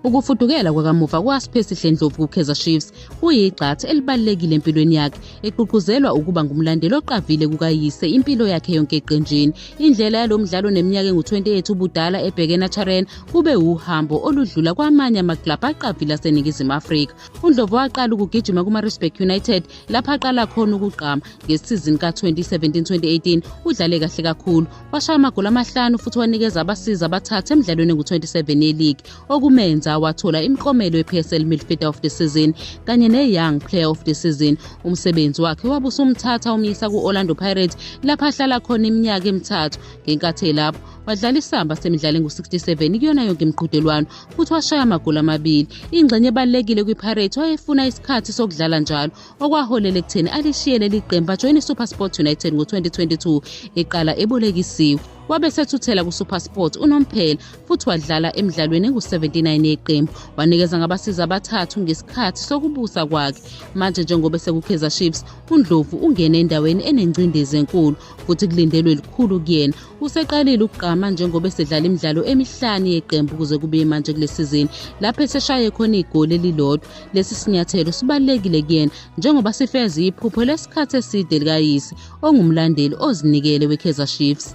Ukufudukela kwakamuva kwaSiphesi Dlendlovu kuKaizer Chiefs kuyigxathu elibalulekile empilweni yakhe, egqugquzelwa ukuba ngumlandeli oqavile kukayise impilo yakhe yonke eqenjini. Indlela yalo mdlalo neminyaka engu-28 ubudala ebheke Nacharen kube wuhambo oludlula kwamanye amaklabhu aqavile aseNingizimu Afrika. UNdlovu waqala ukugijima kuMaritzburg United lapho aqala khona ukugqama. Ngesizini ka-2017-2018 udlale kahle kakhulu, washaya amagoli amahlanu futhi wanikeza abasiza abathathu emidlalweni engu-27 yeligi okumenza wathola imiklomelo ye-psl midfielder of the season kanye ne-young player of the season umsebenzi wakhe wabe usumthatha umyisa ku-orlando pirates lapho ahlala khona iminyaka emithathu ngenkathi elapho wadlala isamba semidlalo engu-67 kuyona yonke imiqhudelwano futhi washaya amagoli amabili ingxenye ebalulekile kwipirates wayefuna isikhathi sokudlala njalo okwaholela ekutheni alishiye leli qembu ajoyina isupersport united ngo-2022 eqala ebolekisiwe wabe sethuthela kusupersport unomphela futhi wadlala emidlalweni engu-79 yeqembu wanikeza ngabasiza abathathu ngesikhathi sokubusa kwakhe manje njengoba esekukhiza chiefs undlovu ungene endaweni enengcindezi enkulu futhi kulindelwe likhulu kuyena Useqalile ukugqama njengoba esedlala imidlalo emihlanu yeqembu kuze kube manje kule sizini lapho eseshaye khona igoli elilodwa. Lesi sinyathelo sibalulekile kuyena njengoba sifeza iphupho lesikhathi eside likayise ongumlandeli ozinikele weKaizer Chiefs.